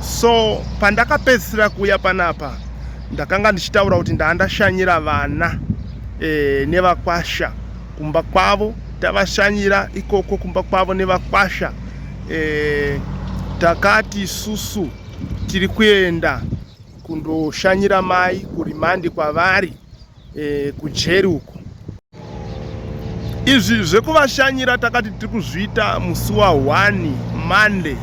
so pandakapedzisira kuuya panapa ndakanga ndichitaura kuti ndaandashanyira vana e, nevakwasha kumba kwavo tavashanyira ikoko kumba kwavo nevakwasha e, takati susu tiri kuenda kundoshanyira mai kurimandi kwavari e, kujeri uko izvi zvekuvashanyira takati tiri kuzviita musi wa 1 monday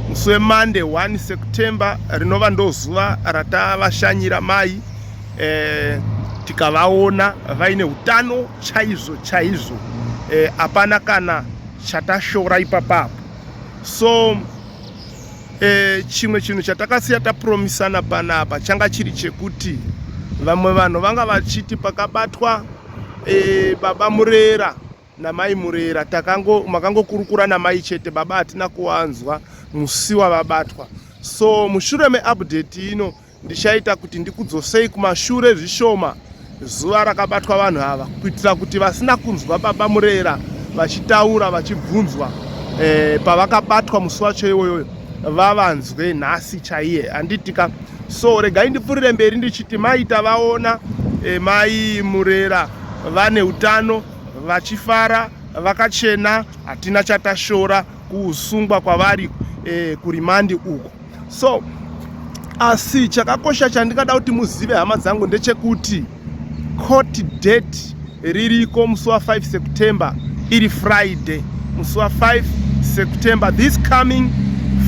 musi wemonday 1 september rinova ndozuva ratavashanyira mai e, tikavaona vaine utano chaizvo chaizvo eh, hapana e, kana chatashora ipapapo so E, chimwe chinhu chatakasiya tapromisana panapa changa chiri chekuti vamwe vanhu vanga vachiti pakabatwa e, baba murera namai murera takango makangokurukura namai chete baba hatina kuwanzwa musi wavabatwa so mushure meupdate ino Ndichaita kuti ndikudzosei kumashure zvishoma zuva rakabatwa vanhu ava kuitira kuti vasina kunzwa baba Murera vachitaura vachibvunzwa eh, pavakabatwa musi wacho iwoyoyo vavanzwe nhasi chaiye handitika so regai ndipfurire mberi ndichiti mai tavaona eh, mai Murera vane utano vachifara vakachena hatina chatashora kusungwa kwavari eh, kurimandi uko so asi chakakosha chandingada kuti muzive hama dzangu ndechekuti court date ririko musi wa 5 september iri friday musi wa 5 september this coming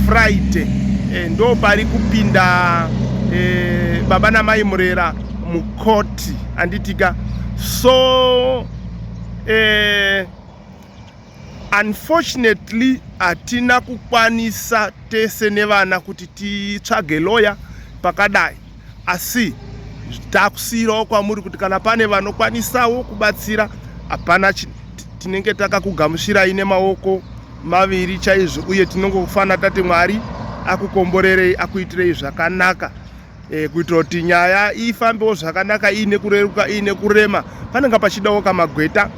friday e, ndo pari kupinda e, baba namai murera mukoti anditika so e, Unfortunately hatina kukwanisa tese nevana kuti titsvage lawyer pakadai asi takusiirawo kwamuri kuti kana pane vanokwanisawo kubatsira hapana tinenge takakugamuchirai nemaoko maviri chaizvo uye tinongofanira tati mwari akukomborerei akuitirei zvakanaka e, kuitira kuti nyaya ifambewo zvakanaka iine kureruka iine kurema panenge pachidawo kamagweta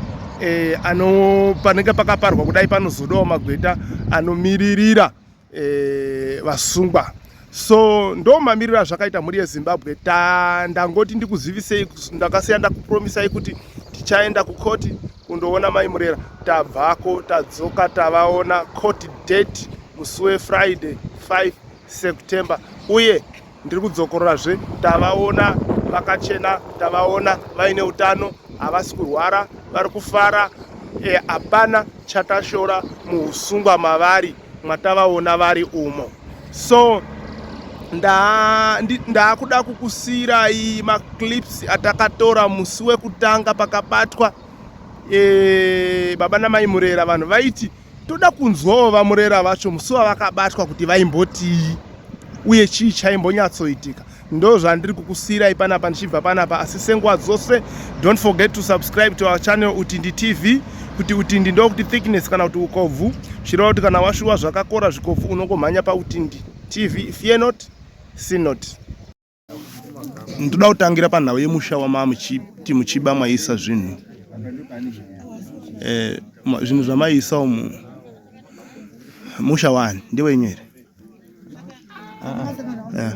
e, ano panenge pakaparwa kudai panozodawo magweta anomiririra e, vasungwa so ndo mamiriro azvakaita mhuri yezimbabwe ta ndangoti ndikuzivisei ndakasiya ndakupromisai kuti tichaenda kukoti kundoona mai murera tabvako tadzoka tavaona court date musi wefriday 5 September uye ndiri kudzokororazve tavaona vakachena tavaona vaine utano havasi kurwara vari kufara eh, hapana e, chatashora muusungwa mavari mwatavaona vari umo so ndaakuda nda kukusiirai maclips atakatora musi wekutanga pakabatwa e, baba namai murera vanhu vaiti toda kunzwawo vamurera vacho musi wavakabatwa kuti vaimbotii uye chii chaimbonyatsoitika ndo zvandiri kukusiyirai panapa ndichibva panapa asi senguva dzose don't forget to subscribe to our channel utindi tv kuti utindi ndokuti thickness kana kuti ukobvu chireva kuti kana washuwa zvakakora zvikobvu unongomhanya pautindi tv fear not sin not ndoda kutangira panhau yemusha wamamuchiti muchiba mwaisa zvinhu eh, zvinhu zvamaisa umu musha wani ndewenyu here ah, ah. eh.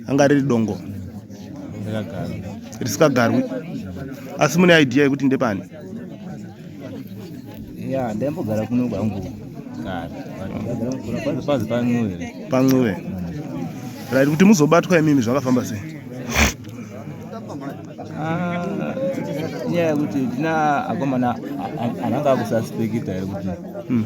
anga riri dongo risikagarwi asi mune idea yekuti ndepani ya ndaimbogara kuno kwangu kare pancuve right kuti muzobatwa imimi zvakafamba sei nyaya ah, yekuti tina akomana ananga akusaspekita yekuti hmm.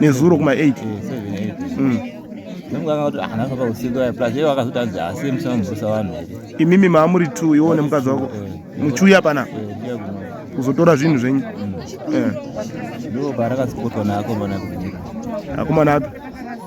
nezuro kuma 8 imimi maamuri t iwo nemukadzi wako muchiuya pana kuzotora zvinhu zvenyu ndoparakazipotwa naakomana akomana api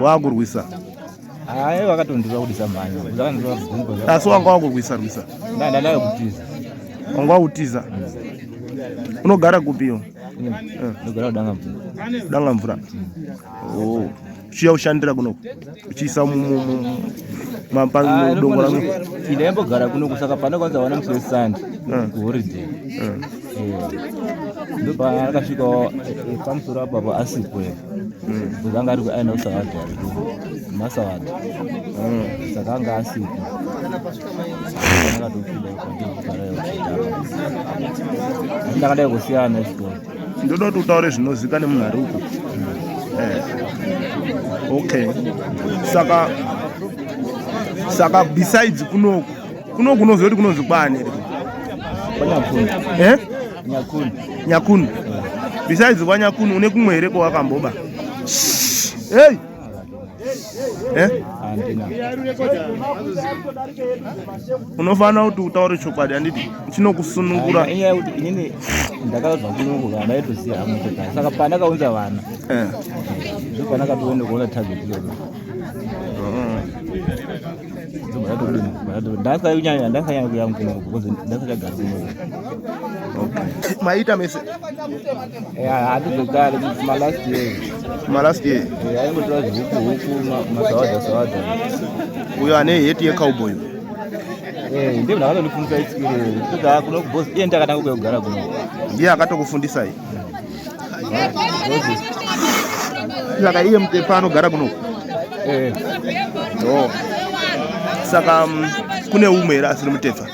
waakurwisa hayi wakatondiva kuti samhanya asi wanga wakurwisa rwisa ndandadava kutiza wanga wakutiza unogara kupiwo ndogara kudanga mvura kudanga mvura oh. chiya ushandira kunoku uchiisa mapandongo ah, rangu ndaembogara kunoku saka pane kwanza wana musi wesande kuhoriday ah. ah. ndopaakasvika pamusoro apapo asipo bcause anga ari kuaina usavadhi ariko masavadhi saka anga asipo ndakadai kusiyana chikoro ndoda kuti utaure zvinozika nemunhu ari uko eh. okay saka saka besides kunoku kuno kunoziva kuti kunonzi kwani eh? nyakunu besides wanyakunu une kumwe here kwawakamboba hey! Eh? unofanira kuti utaure chokwadi handiti chinokusunungura ndakaudzwa kunungu vana vaitoziva hamotokani saka pandakaunza vana eh. ndopandakatoenda kuona target iyoyo oh. maita mese handizvekare malast year malast year aingotora zvihuku huku masawadza sawadza uyo ane heti yecowboy eh, ndiye ndakatondifundisa experience kuda kuno kubhosi iye ndakatanga kuya kugara kuno ndiye akatokufundisai saka iye mutepa anogara kuno eh. oh. saka um, kune umwe here asiri mutefa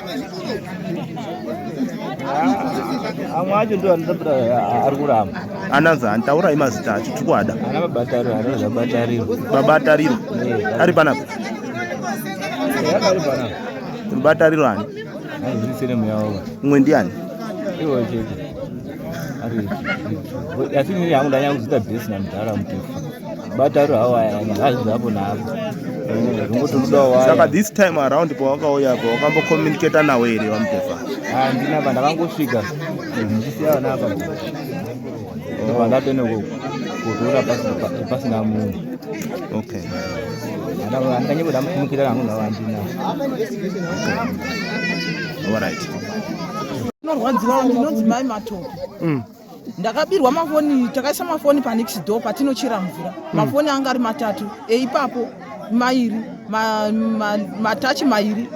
amwe acho ndo anotambira ari kuramba ananzi handitaurai mazita acho tiri kuada babatariro ari panapa babatariro ani umwe ndiani asi ini yangu ndanyanya kuzita besi namudhara mutefu bataro hawo aya hazvi hapo naapo saka this time around pawakauya po wakambocommunicata nawo here vamutefa handina pa ndakangosvika ndichisiya vana apa pandatene oh. kudura pasina munhu okay andanyeboda mufumukira kangu nawo handina alright Norwadziwa ndinonzi mai matope. Mm. Ndakabirwa mafoni, takaisa mafoni pa next door patinochera mvura. Mm. Mafoni anga ari matatu. Eipapo mairi, ma, ma, matachi mairi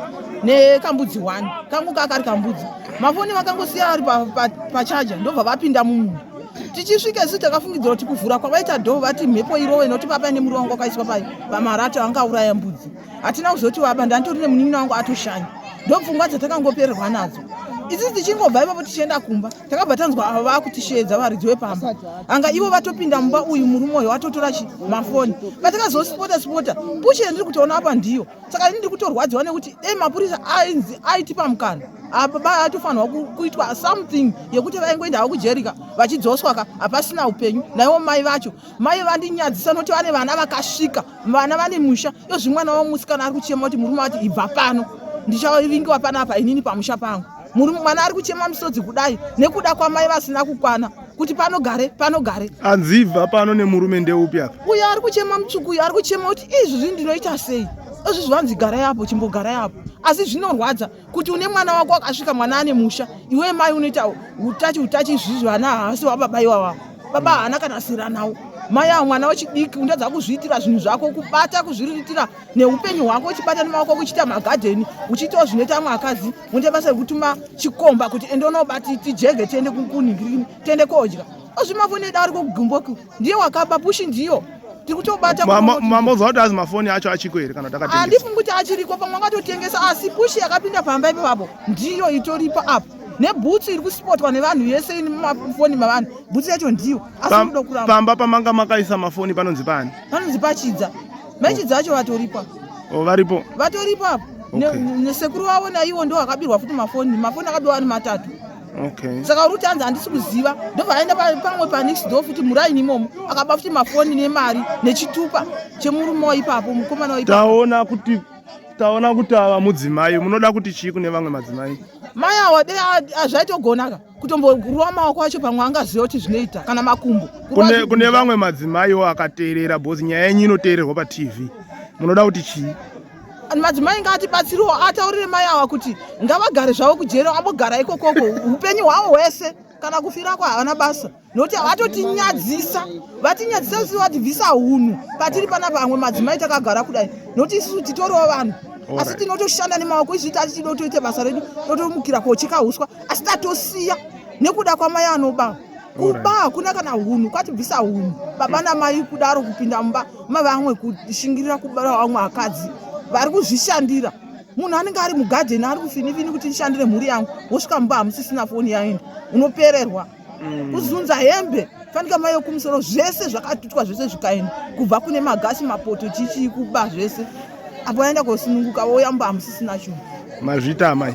nekambudzi one. Kangu kakari kambudzi. Mafoni vakangosiya ari pa, pa, pa charger ndobva vapinda mumunhu. Tichisvika isu takafungidzira kuti kuvhura kwavaita door vati mhepo irowe nokuti papa nemuri wangu wakaiswa pamarata angauraya mbudzi. hatina kuzoti waba ndanditori nemunin'ina wangu atoshanya ndopfungwa dzatakangopererwa nadzo isi tichingobva ipapo tichienda kumba takabva tanzwa avo vaakutishedza varidzi wepamba anga ivo vatopinda mumba uyu murume uyo atotora chi mafoni patakazosipota sipota pushe ndiri kutoona apa ndiyo saka ini ndiri kutorwadziwa nekuti dei mapurisa ainzi aitipa mukana apa ba atofanirwa kuitwa something yekuti vaingoenda havo kujerika vachidzoswaka hapasina upenyu naivo mai vacho mai vandinyadzisa noti vane vana vakasvika vana vane musha yozvi mwana wamusikana ari kuchema kuti murume ati ibva pano ndichavingiwa panapa inini pamusha pangu murume mwana ari kuchema misodzi kudai nekuda kwamai vasina kukwana kuti panogare panogare anzibva pano nemurume ndeupi apa uyo ari kuchema mutsvuku uyo ari kuchema kuti izvizvi ndinoita sei izvizvi vanzi gara yapo chimbogarai apo asi zvinorwadza kuti une mwana wako akasvika mwana ane musha iwe mai unoita utachi utachi izvizvi vana havasi wababa iwava baba haana kana sira nawo mai avo mwana wechidiki undatadza kuzviitira zvinhu zvako kubata kuzviriritira neupenyu hwako uchibata nemaoko kuchiita magadheni uchiitawo zvinoita amwe akadzi unoita basa rekutuma chikomba kuti ende unobati tijege tiende kunhingirini tiende kodya ozvimavoneda ari kugumboku ndiye wakaba pushi ndiyo mamozwa kuti azi mafoni acho achiko here kana takaandifungi kuti achiriko pamwe akatotengesa asi pushi yakapinda pamba ipapapo ndiyo itoripa apo nebhutsu iri kuspotwa nevanhu yese ini mumafoni mavanhu bhutsu yacho ndiyo asikuda kuramba pamba pamanga makaisa mafoni panonzi pani panonzi pachidza machidza acho vatoripa oh, varipo vatoripa apo nesekuru vavo naiwo ndo akabirwa futi mafoni mafoni akabirwa ari matatu Okay. Saka Ruti anzi handisi kuziva ndobva aenda pamwe panext door futi muraini imomo akaba futi mafoni nemari nechitupa chemurume waipapo mukomana waipapo. Taona kuti taona kuti ava mudzimai munoda kuti chii kune vamwe madzimai mai awa dei zvaitogonaka kutomborova maoko acho pamwe angaziva kuti zvinoita kana makumbo kune, kune vamwe madzimaiwo akateerera bhozi nyaya yenyu inoteererwa patv munoda kuti chii madzimai ngaatibatsiriwo ataurire mai awa kuti ngavagare zvavo kujeri ambogara ikokoko upenyu hwavo hwese kana kufira kwa havana basa nokuti vatotinyadzisa vatinyadzisa visi vatibvisa hunhu patiri pana pamwe madzimai takagara kudai nokuti isusu titoriwo vanhu asi tinotoshanda nemaoko izvi tati tido toite basa redu totomukira kocheka uswa asi tatosiya nekuda kwamai anoba kuba hakuna kana hunhu kwatibvisa hunhu baba namai kudaro kupinda mumba ma vamwe kushingirira kubara vamwe akadzi vari kuzvishandira munhu anenge ari mugadheni ari kufinifini kuti ndishandire mhuri yangu wosvika mumba hamusisina foni yaenda unopererwa mm. kuzunza hembe fanika mai yokumusoro zvese zvakatutwa zvese zvikaenda kubva kune magasi mapoto chichii kuba zvese apo aenda kosununguka woyamba hamusisina chunhu mazvita amai